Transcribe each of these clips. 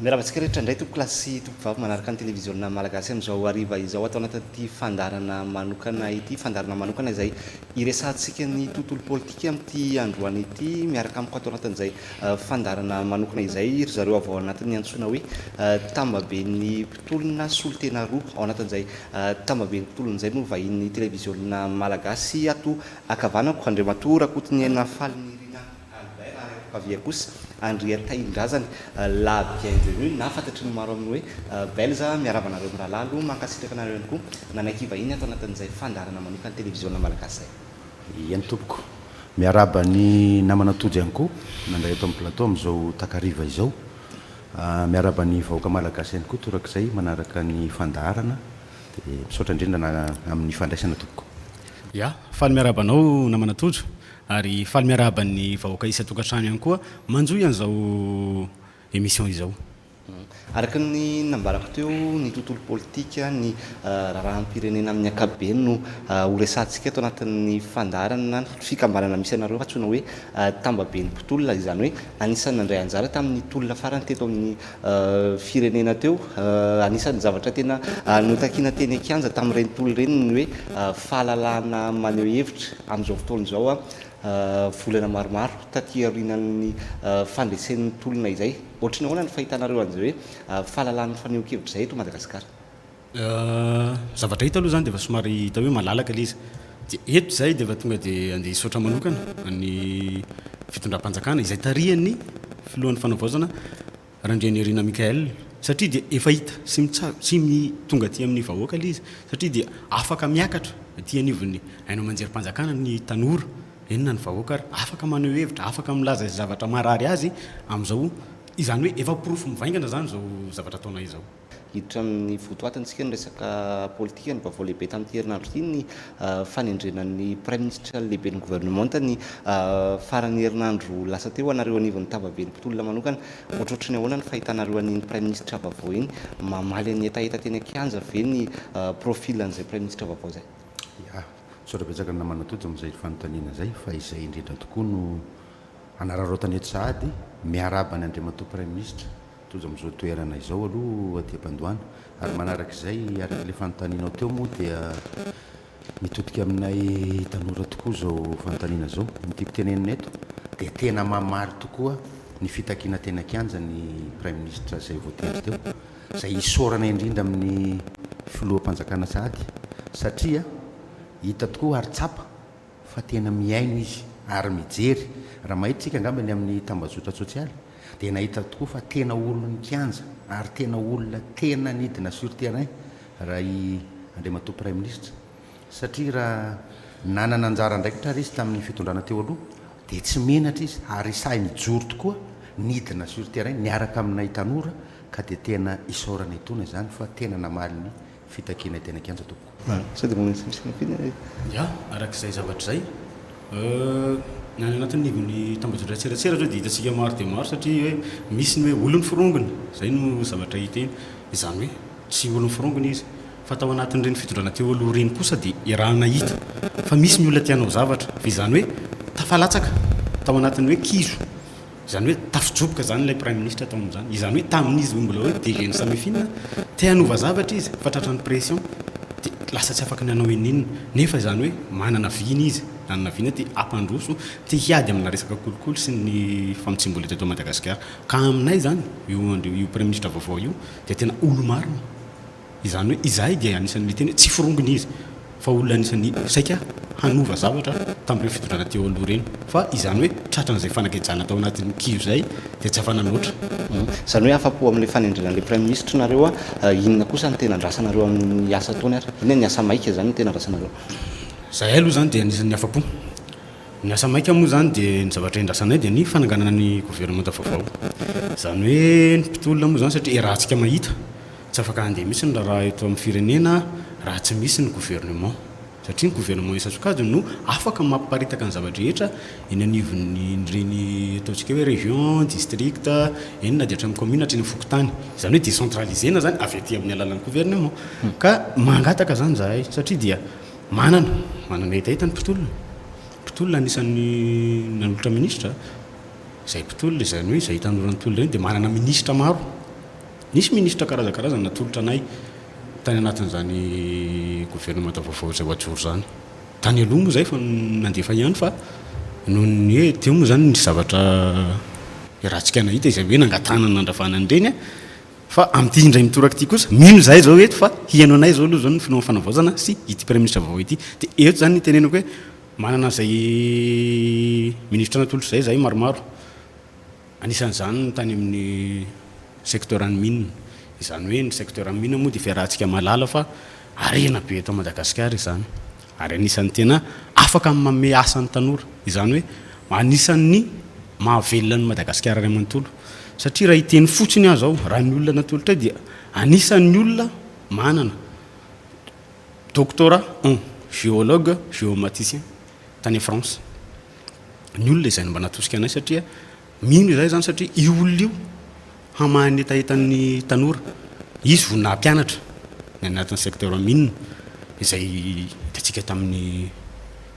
Miarahaba antsika rehetra indray tompoko lahy sy tompoko vavy manaraka ny televiziona malagasy amin'izao hariva izao ato anatin'ity fandaharana manokana ity, fandaharana manokana izay hiresahantsika ny tontolo politika amin'ity androany ity miaraka amiko ato anatin'izay fandaharana manokana izay ry zareo avy ao anatin'ny antsoina hoe tambaben'ny mpitolona solontena roa ao anatin'izay tambaben'ny mpitolona izay no vahinin'ny televiziona malagasy ato ankavanako Andriamatoa Rakotonihena Falinirina Albert Raharepokavia kosa, Andriantahin-drazany, la bienvenue, na fantatry ny maro amin'ny hoe Belza, miarahaba anareo mirahalahy aloha, mankasitraka anareo ihany koa nanaiky hivahiny ato anatin'izay fandaharana manokan'ny televiziona malagasy izay. Eny tompoko. Miarahaba ny namana Tojo ihany koa nandray eto amin'ny plateau amin'izao takariva izao. Miarahaba ny vahoaka malagasy ihany koa torak'izay manaraka ny fandaharana dia misaotra indrindra amin'ny fandraisana tompoko. Ya, faly miarahaba anao namana Tojo. Ary faly miarahaba ny vahoaka isan-tokantrano ihany koa manjohy an'izao émission izao. Araka ny nambarako teo, ny tontolo politika, ny raharaham-pirenena amin'ny ankapobeny no horesahantsika eto anatin'ny fandaharana na ny fikambanana misy anareo antsoina hoe Tambaben'ny mpitolona, izany hoe anisan'ny nandray anjara tamin'ny tolona farany teto amin'ny firenena teo. Anisan'ny zavatra tena notakiana teny an-kianja tamin'ireny tolona ireny ny hoe fahalalahana maneho hevitra. Amin'izao fotoana izao, volana maromaro taty aorianan'ny fandresen'ny tolona izay, ohatry ny ahoana ny fahitanareo an'izay hoe fahalalahan'ny fanehoan-kevitra izay eto Madagasikara? Ny zavatra hita aloha izany dia efa somary hita hoe malalaka ilay izy. Dia eto izahay dia efa tonga dia handeha hisaotra manokana an'ny fitondram-panjakana izay tarihan'ny filohan'ny Fanavaozana Randrianirina Michaël satria dia efa hita sy mitsab- sy mi- tonga aty amin'ny vahoaka ilay izy satria dia afaka miakatra aty anivon'ny haino aman-jerim-panjakana ny tanora, eny na ny vahoaka ary, afaka maneho hevitra, afaka milaza izay zavatra marary azy amin'izao, izany hoe efa porofo mivaingana izany izao zavatra ataonay izao. Hiditra amin'ny votoatintsika ny resaka politika. Ny vaovao lehibe tamin'ity herinandro ity ny fanendrena ny Praiminisitra lehiben'ny governemanta ny faran'ny herinandro lasa teo. Anareo anivon'ny Tavaben'ny mpitolona manokana, ohatrohatry ny ahoana ny fahitanareo an'iny Praiminisitra vaovao iny? Mamaly an'ny hetaheta teny an-kianja ve ny profil an'izay Praiminisitra vaovao izay? Ya. Misaotra betsaka ny namana Tojo amin'izay fanontaniana izay fa izay indrindra tokoa no hanararaotana eto sahady. Miarahaba an'i Andriamatoa Praiminisitra. Tojo amin'izao toerana izao aloha aty am-pandoana ary manaraka izay araka ilay fanontanianao teo moa dia mitodika aminay tanora tokoa izao fanontaniana izao. Ny tiako tenenina eto dia tena mamaly tokoa ny fitakiana teny an-kianja ny Praiminisitra izay voatendry teo, izay isaorana indrindra amin'ny Filoham-panjakana sahady satria hita tokoa ary tsapa, fa tena mihaino izy ary mijery, raha mahita isika angamba eny amin'ny tambazotra tsosialy dia nahita tokoa fa tena olon-kianja ary tena olona tena nidina sur terrain raha i Andriamatoa Praiminisitra satria raha nanana anjara andraikitra ary izy tamin'ny fitondrana teo aloha dia tsy menatra izy ary sahy nijoro tokoa nidina sur terrain niaraka aminay tanora ka dia tena isaorana etoana izany fa tena namaly ny fitakiana hiteny an-kianja tompoko. Ah, sao dia manao intsony sy mampino hoe. Ya, araka izay zavatra izay. Ny any anatin'ny nivon'ny tambajotran-tserasera izao dia hitantsika maro dia maro satria hoe misy ny hoe olon'ny forongony, izay no zavatra hita eny. Izany hoe tsy olon'ny forongony izy. Fa tao anatin'ireny fitondrana teo aloha ireny kosa dia iarahana hita fa misy ny olona te hanao zavatra. Fa izany hoe tafalatsaka tao anatin'ny hoe kizo. Izany hoe tafijoboka izany ilay praiminisitra tao amin'izany. Izany hoe tamin'izy mbola hoe DG ny Samifina, te hanova zavatra izy fa tratran'ny pression dia lasa tsy afaka ny hanao ininona. Nefa izany hoe manana vina izy, nanana vina te hampandroso, te hiady amina resaka kolikoly sy ny famotsiam-bola teto Madagasikara. Ka aminay izany io io praiminisitra vaovao io dia tena olo-marina. Izany hoe izahay dia anisan'ny miteny hoe tsy forongony izy fa olona anisan'ny saika hanova zavatra tamin'ireny fitondrana teo aloha ireny fa izany hoe tratran'izay fanagejana tao anatin'ny kiho izay dia tsy afa-nanoatra. Izany hoe afa-po amin'ilay fanendrena an'ilay praiminisitra nareo a, inona kosa no tena andrasanareo amin'ny asa ataony ary? Inona ny asa maika izany no tena andrasanareo? Izahay aloha izany dia anisan'ny afa-po. Ny asa maika moa izany dia ny zavatra endrasanay dia ny fananganana ny governemanta vaovao. Izany hoe ny mpitolona moa izany satria iarahantsika mahita. Tsy afaka handeha mihitsy ny raharaha eto amin'ny firenena raha tsy misy ny gouvernement. Satria ny gouvernement isan-tsokajiny no afaka mamparitaka ny zava-drehetra eny anivon'ireny ataontsika hoe région, district, eny na dia hatramin'ny commune hatreny amin'ny fokontany. Izany hoe décentralisena izany avy aty amin'ny alalan'ny gouvernement. Ka mangataka izany izahay satria dia manana, manana hetaheta ny mpitolona. Mpitolona anisan'ny nanolotra minisitra izay mpitolona, izany hoe izay hitanora ny tolona ireny dia manana minisitra maro. Nisy minisitra karazankarazany natolotra anay tany anatin'izany governemanta vaovao izay voajoro izany. Tany aloha moa izay efa nandefa ihany fa noho ny hoe teo moa izany nisy zavatra iarahantsika nahita izay hoe nangatahana ny nandravana an'ireny fa amin'ity indray mitoraka ity kosa mino izahay izao eto fa hiheno anay izao aloha izao ny filohan'ny fanavaozana sy ity praiminisitra vaovao ity dia eto izany ny itenenako hoe manana izay minisitra natolotra izay izahay maromaro. Anisan'izany ny tany amin'ny secteuran'ny mines. Izany hoe ny secteuran'ny mines moa dia fiarahantsika mahalala fa harena be eto Madagasikara izany ary anisan'ny tena afaka amin'ny manome asa ny tanora. Izany hoe anisan'ny mahavelona an'i Madagasikara iray manontolo satria raha hiteny fotsiny aho izao, raha ny olona natolotra ahy dia anisan'ny olona manana doctorat en géologue, géomaticien tany France. ny olona izay mba natosika anay satria mino izahay izany satria io olona io hamaha ny hetahetan'ny tanora. Izy vao nampianatra ny anatin'ny secteur mine izay hitantsika tamin'ny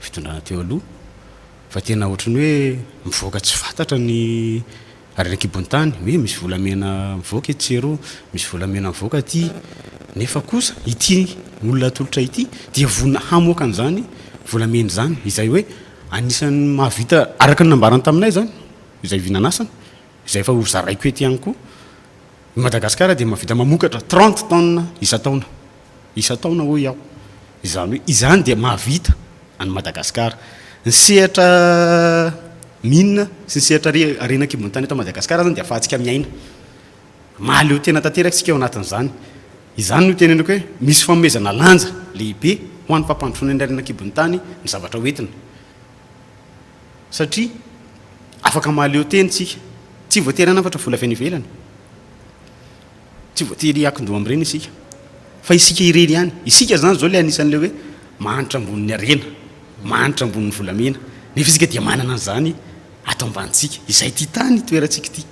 fitondrana teo aloha fa tena ohatran'ny hoe mivoaka tsy fantatra ny Ary any an-kibon'ny tany, hoe misy volamena mivoaka etsy sy eroa, misy volamena mivoaka aty, nefa kosa ity olona atolotra ity dia vonona hamoaka an'izany volamena izany, izay hoe anisan'ny mahavita, araka ny nambarany taminay izany, izay vy nanasana, izay efa hozaraiko eto ihany koa, i Madagasikara dia mahavita mamokatra trente tonnes isan-taona. isan-taona hoy aho. Izany hoe izany dia mahavita an'i Madagasikara. Ny sehatra mines sy ny sehatra harena an-kibon'ny tany eto Madagasikara izany dia ahafahantsika miaina. Mahaleo tena tanteraka isika eo anatin'izany. Izany no itenenako hoe misy fanomezana lanja lehibe ho an'ny fampandrosoana ny harena an-kibon'ny tany ny zavatra ho entina. Satria afaka mahaleo tena isika. Tsy voatery hanafatra vola avy any ivelany. Tsy voatery hiankin-doha amin'ireny isika, fa isika irery ihany. Isika izany izao ilay anisan'ilay hoe mahantra ambonin'ny harena, mahantra ambonin'ny volamena, nefa isika dia manana an'izany ato ambanintsika. Izay ity tany toerantsika ity.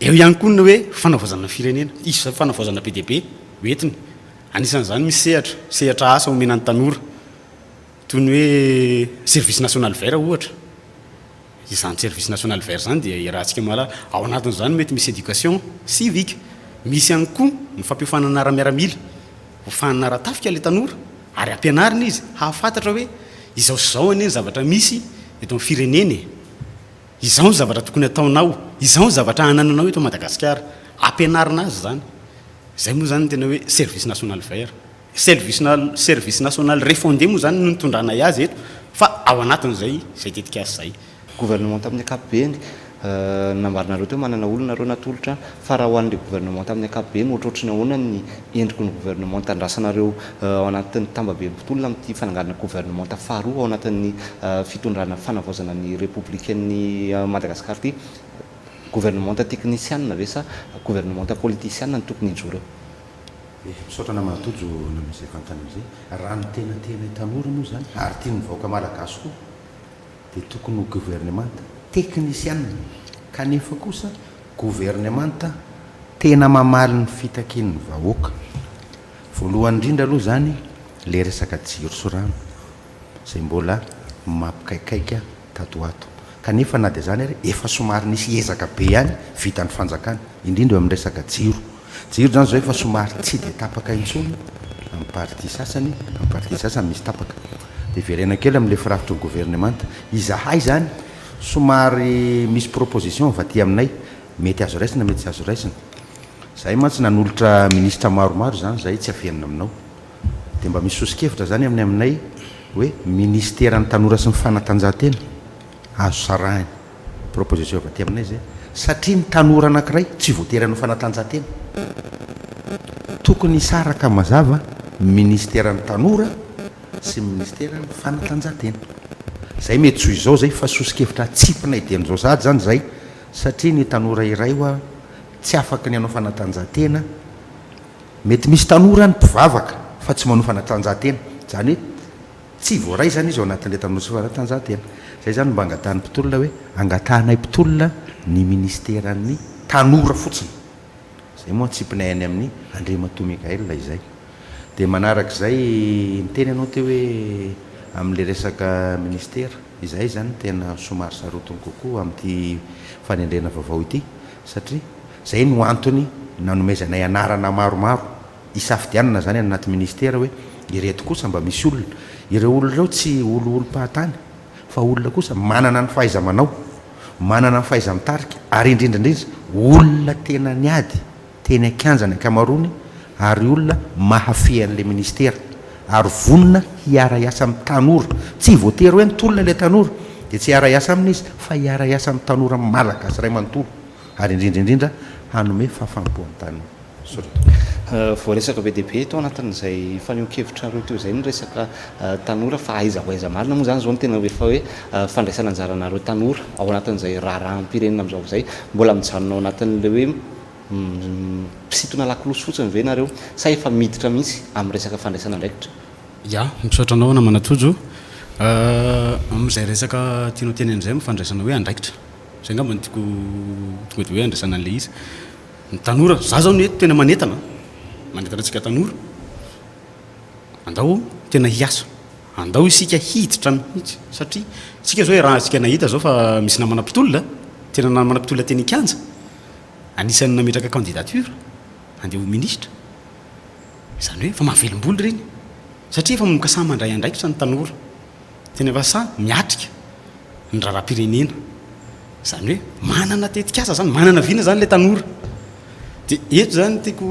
Eo ihany koa ny hoe fanavaozana ny firenena. Hisy izao fanavaozana be dia be ho entiny. Anisan'izany misy sehatra, sehatra asa omena ny tanora, toy ny hoe service national vert ohatra. Izany service national vert izany dia iarahantsika mahalala, ao anatin'izany mety misy éducation civique, misy ihany koa ny fampiofanana ara-miaramila, hofanina ara-tafika ilay tanora ary ampianarina izy hahafantatra hoe izao sy izao anie ny zavatra misy eto amin'ny firenena e! izao ny zavatra tokony hataonao, izao ny zavatra anananao eto Madagasikara, ampianarina azy izany, izay moa izany ny tena hoe service national vert. Service national refondé moa izany no nitondranay azy eto fa ao anatin'izay izay tetikasa izay. Gouvernement tamin'ny ankapobeny, nambaranareo teo manana olona nareo natolotra, fa raha ho an'ilay gouvernement tamin'ny ankapobeny ohatrohatry ny ahoana ny endriky ny gouvernement andrasanareo ao anatin'ny tambabe mpitolona amin'ity fananganana gouvernement faharoa ao anatin'ny fitondrana fanavaozana ny repoblikan'i Madagasikara ity? Gouvernement teknisiana ve sa gouvernement politisiana no tokony hijoro eo? Eh, misaotra namana Tojo nanao izay fantany amin'izay. Raha ny tena tianay tanora moa izany, ary tian'ny vahoaka malagasy koa, dia tokony ho governemanta teknisiana, kanefa kosa governemanta tena mamaly ny fitakian'ny vahoaka. Voalohany indrindra aloha izany ilay resaka jiro sy rano, izay mbola mampikaikaika. tato ho ato. Kanefa na dia izany ary efa somary nisy ezaka be ihany vitan'ny fanjakana, indrindra eo amin'ny resaka jiro. Jiro izany izao efa somary tsy dia tapaka intsony amin'ny partie sasany, amin'ny partie sasany misy tapaka. Dia hiverena kely amin'ilay firafitry ny governemanta. Izahay izany somary misy proposition avy aty aminay, mety azo raisina mety tsy azo raisina. Izahay mantsy nanolotra minisitra maromaro izany izahay, tsy avenona aminao. Dia mba misy soso-kevitra izany amin'ny aminay hoe Minisiteran'ny Tanora sy ny Fanatanjahantena, azo sarahina, proposition avy aty aminay izay, satria ny tanora anankiray tsy voatery hanao fanatanjahantena. Tokony hisaraka mazava ny Minisiteran'ny Tanora sy ny Minisiteran'ny Fanatanjahantena. Izay mety tsy ho izao izay fa soso-kevitra atsipinay dieny izao sahady izany izay satria ny tanora iray ho'a tsy afaky ny hanao fanatanjahantena, Mety misy tanora any mpivavaka fa tsy manao fanatanjahantena, izany hoe tsy voaray izany izy ao anatin'ilay tanora tsy fanatanjahantena. Izay izany no mba angatahan'ny mpitolona hoe angatahanay mpitolona ny ministeran'ny tanora fotsiny. Izay moa antsipinay any amin'i Andriamatoa Michael izay. Dia manaraka izay niteny ianao teo hoe amin'ilay resaka ministera. Izahay izany no tena somary sarotiny kokoa amin'ity fanendrena vaovao ity satria. Izay no antony nanomezanay anarana maromaro hisafidianana izany any anaty ministera hoe ireto kosa mba misy olona. Ireo olona ireo tsy oliolim-pahatany fa olona kosa manana ny fahaiza-manao, manana ny fahaiza-mitarika ary indrindra indrindra olona tena niady teny an-kianja ny ankamaroany ary olona mahafehy an'ilay ministera ary vonona hiara-hiasa amin'ny tanora. Tsy voatery hoe nitolona ilay tanora dia tsy hiara-hiasa aminy izy fa hiara-hiasa amin'ny tanora malagasy iray manontolo. ary indrindra indrindra hanome fahafaham-po an'i Tana. Voaresaka be dia be tao anatin'izay fanehoan-kevitrareo teo izay ny resaka tanora fa aiza ho aiza marina moa izany izao ny tena hoe fa hoe fandraisana anjaranareo tanora ao anatin'izay raharaham-pirenena amin'izao izay? Mbola mijanona ao anatin'ilay hoe mpisintona lakolosy fotsiny ve nareo sa efa miditra mihitsy amin'ny resaka fandraisana andraikitra? Ya, misaotra anao namana Tojo, amin'izay resaka tianao tenenina izay amin'ny fandraisana hoe andraikitra. Zay angamba no tiako tonga de hoe andraisana an'ilay izy. Ny tanora, za zao anie tena manentana a! Manentana antsika tanora, andao tena hiasa, andao isika hiditra mihitsy satria isika zao iarahantsika nahita zao fa misy namana mpitolona, tena namana mpitolona teny an-kianja, anisan'ny nametraka candidature handeha ho ministra, zany hoe efa mahavelom-bolo ireny satria efa manomboka sahy mandray andraikitra ny tanora. Teny Ambassa miatrika ny raharaham-pirenena, izany hoe manana tetikasa izany, manana vina izany ilay tanora. Dia eto izany tiako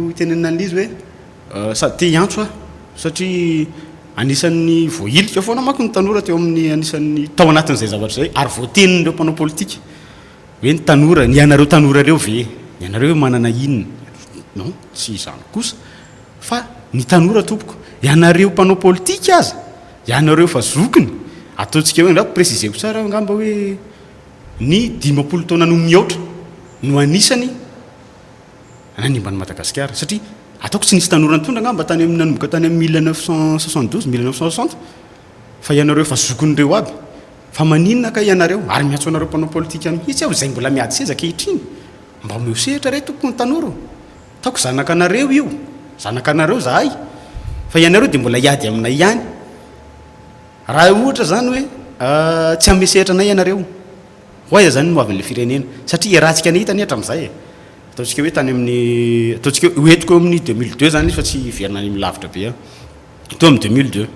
hitenenana an'ilay izy hoe sady te hiantso aho satria anisan'ny voahilika foana manko ny tanora teo amin'ny anisan'ny tao anatin'izay zavatra izay ary voatenin'ireo mpanao politika hoe ny tanora, ny anareo tanora ireo ve? Ny anareo ve manana inona? Non, tsy izany kosa. Fa ny tanora tompoko, ianareo mpanao politika aza, ianareo efa zokiny, ataontsika hoe angamba préciser-ko tsara aho angamba hoe ny dimampolo taona no mihoatra no anisany nanimba an'i Madagasikara satria ataoko tsy nisy tanora nitondra angamba tany amin'ny nanomboka tany amin'ny mille neuf cent soixante douze, mille neuf cent soixante fa ianareo efa zokin'ireo aby fa maninona kay ianareo ary miantso anareo mpanao politika mihitsy aho izay mbola miady seza ankehitriny mba omeo sehatra re tompoko ny tanora ô! Ataoko zanakanareo io, zanakanareo izahay, fa ianareo dia mbola hiady aminay ihany. Raha ohatra izany hoe tsy hanome sehatra anay ianareo, ho aiza izany ny hoavin' ilay firenena? Satria hiarahantsika ny hita anie hatramin'izay e! Ataontsika hoe tany amin'ny, ataontsika hoe hoentiko eo amin'ny deux mille deux izany izy fa tsy hiverina any amin'ny lavitra be aho. Teo amin'ny deux mille deux,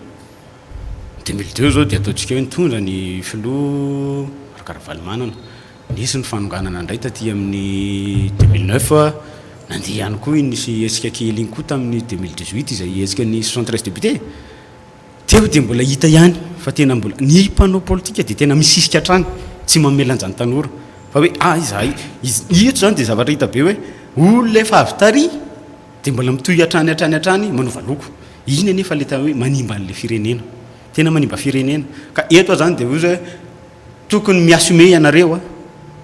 deux mille deux izao dia ataontsika hoe nitondra ny filoha Marc Ravalomanana. Nisy ny fanonganana indray taty amin'ny deux mille neuf, nandeha ihany koa iny nisy hetsika kely iny koa tamin'ny deux mille dix huit izay hetsika ny soixante treize députés. Teo dia mbola hita ihany fa tena mbola, ny mpanao politika dia tena misisika hatrany, tsy mamelanja ny tanora fa hoe ah izahay, izy eto izany dia zavatra hita be hoe olona efa avy tary dia mbola mitohy hatrany hatrany hatrany manova loko, iny anefa ilay tena hoe manimba an'ilay firenena, tena manimba firenena ka eto aza izany dia hoe. Tokony mi-assumer ianareo a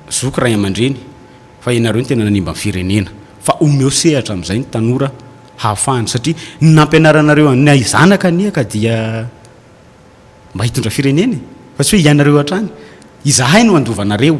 zoky ray aman-dreny fa ianareo no tena nanimba ny firenena fa omeo sehatra amin'izay ny tanora hahafahany satria ny nampianaranareo anay zanaka anie ka dia mba hitondra firenena e fa tsy hoe ianareo hatrany izahay no handova anareo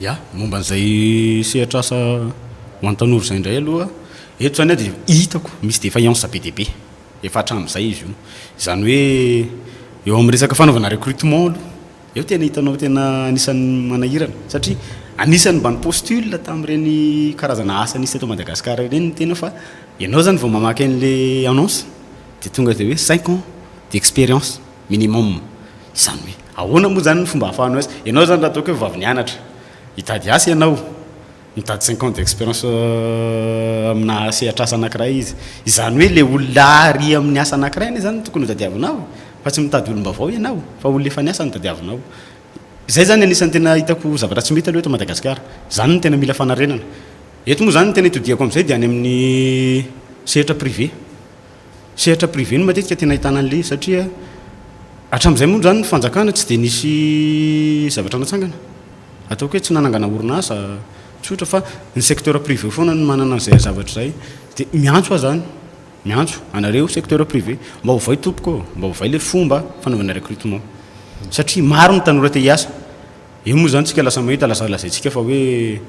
Ya, momba an'izay sehatr'asa ho an'ny tanora izay indray aloha, eto izany dia hitako misy défaillance be dia be efa hatramin'izay izy io. Izany hoe eo amin'ny resaka fanaovana recrutement aloha, eo tena hitanao tena anisan'ny manahirana satria anisan'ny mba ni-postule tamin'ireny karazana asa nisy teto Madagasikara ireny ny tena fa ianao izany vao mamaky an'ilay annonce dia tonga dia hoe cinq ans d'expérience. Minimum. Izany hoe ahoana moa izany ny fomba ahafahanao es. Ianao izany raha ataoko hoe vao avy nianatra. Hitady asa ianao. Mitady cinq ans d'expérience aminà sehatr'asa anankiray izy. Izany hoe ilay olona àry amin'ny asa anankiray anie izany no tokony hotadiavinao e. Fa tsy mitady olom-baovao ianao fa olona efa niasa no tadiavinao. Izay izany anisan'ny tena hitako zavatra tsy mety aloha eto Madagasikara. Izany no tena mila fanarenana. Eto moa izany ny tena itodihako amin'izay dia any amin'ny sehatra privé. Sehatra privé no matetika tena ahitana an'le satria hatramin'izay moa zany ny fanjakana tsy dia nisy zavatra natsangana ataoko hoe tsy nanangana orinasa tsotra fa ny secteur privé foana no manana an'izay zavatra izay dia miantso aho zany miantso anareo secteur privé mba ovay tompoko ô mba ovay le fomba fanaovana recrutement satria maro ny tanora te hiasa eo moa zany tsika lasa mahita laza lazaintsika fa hoe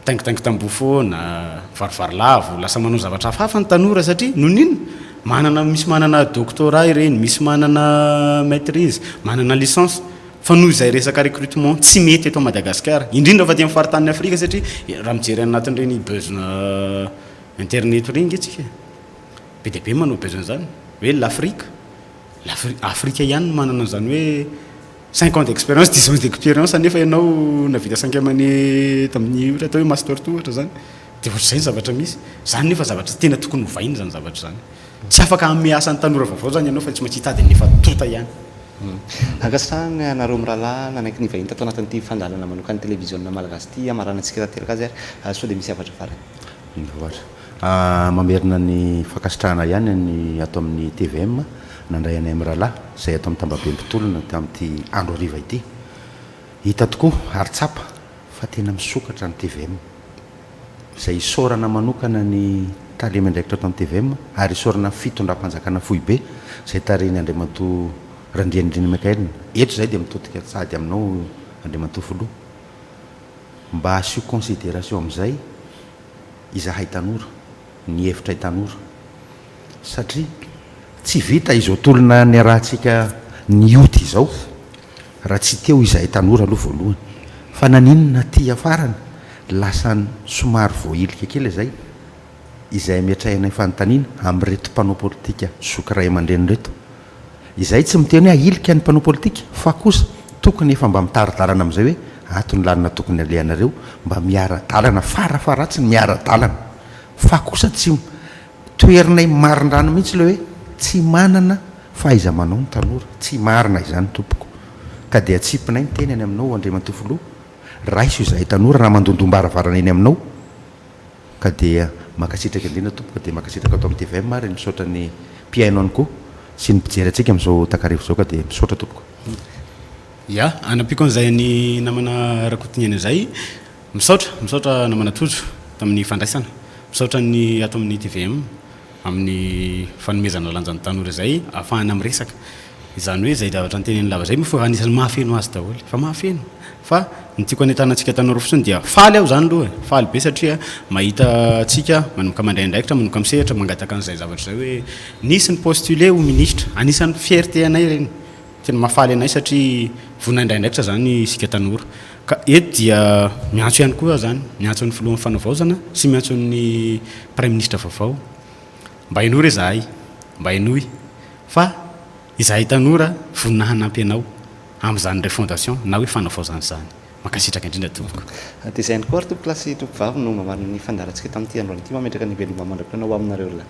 Taingitaingy tamboho foana, mivarivary lavo, lasa manao zavatra hafahafa ny tanora satria noho ny inona? Manana, misy manana doctorat ireny, misy manana maitrise, manana licence fa noho izay resaka recrutement tsy mety eto Madagasikara indrindra fa aty amin'ny faritanin'i Afrika satria raha mijery any anatin'ireny beuzna interneto ireny nge tsika be dia be manao beuzna izany hoe l'Afrique, l'Afrique, Afrika ihany no manana an'izany hoe Cinq ans d'expérience, dix ans d'expérience nefa ianao nahavita cinq amane tamin'ny ohatra atao hoe master two ohatra zany de ohatr'izay ny zavatra misy. Zany nefa zavatra tena tokony hovaina zany zavatra zany. Tsy afaka hanome asa ny tanora vaovao zany ianao fa tsy maintsy hitady an'le efa tonta ihany. Ankasitrahana anareo mirahalahy nanaiky nivahiny tato anatin'ity fandalana manokan'ny televiziona malagasy ity hamaranantsika tanteraka azy ary soa dia misy hafatra farany. Mivoatra. Mamerina ny fankasitrahana ihany ny ato amin'ny tvm nandray anay mirahalahy izay ato amin'ny tambabe mpitolona tamin'ity andro hariva ity. Hita tokoa ary tsapa fa tena misokatra ny tvm. Izay isaorana manokana ny tale miandraikitra ato amin'ny tvm ary isaorana fitondram-panjakana foibe izay tarihin'i Andriamatoa Randrianirina Michael. Eto izahay dia mitodika sady aminao Andriamatoa Filoha mba asio consideration amin'izay Izahay tanora, ny hevitray tanora, satria tsy vita izao tolona niarahantsika nioty izao raha tsy teo izahay tanora aloha voalohany, fa naninona aty afarany lasa somary voahilika kely izay, izay ametrahinay fanontaniana amin'ireto mpanao politika zoky ray aman-dreny ireto. Izahay tsy miteny hoe ahilika ny mpanao politika fa kosa tokony efa mba mitari-dalana amin'izay hoe ato ny lalana tokony alehanareo mba miara-dalana fara faharatsiny miara-dalana fa kosa tsy toherinay marindrano mihitsy ilay hoe tsy manana fahaiza-manao ny tanora tsy marina izany tompoko ka dia atsipinay ny teny any aminao Andriamatoa Filoha raiso izahay tanora raha mandondom-baravarana eny aminao Ka dia mankasitraka indrindra tompoko dia mankasitraka ato amin'ny tvm ary misaotra ny mpihaino ihany koa sy ny mpijery antsika amin'izao takariva izao ka dia misaotra tompoko. Ya, anampiako an'izay an'i namana Rakotoniaina izay. Misaotra, misaotra namana Tojo tamin'ny fandraisana. Misaotra ny ato amin'ny tvm. amin'ny fanomezana lanja ny tanora izay ahafahana miresaka, izany hoe izay zavatra noteneniny lava izay moa fa anisan'ny mahafeno azy daholo fa mahafeno fa ny tiako hanentana antsika tanora fotsiny dia faly aho izany aloha e! faly be satria mahita antsika manomboka mandray andraikitra, manomboka misehatra, mangataka an'izay zavatra izay hoe nisy ni-postuler ho ministra, anisan'ny fierté anay ireny, tena mahafaly anay satria vonona handray andraikitra izany isika tanora. Ka eto dia miantso ihany koa aho izany, miantso ny Filohan'ny Fanavaozana sy miantso ny Praiminisitra vaovao, mba henoy re izahay, mba henoy fa izahay tanora vonona hanampy anao amin'izany refondation na hoe fanavaozana izany. Mankasitraka indrindra tompoko. Dia izay ihany koa ary tompokolahy sy tompokovavy no mba manana ny fandaharantsika tamin'ity androany ity, mametraka ny veloma mandra-pionao ho aminareo lahy.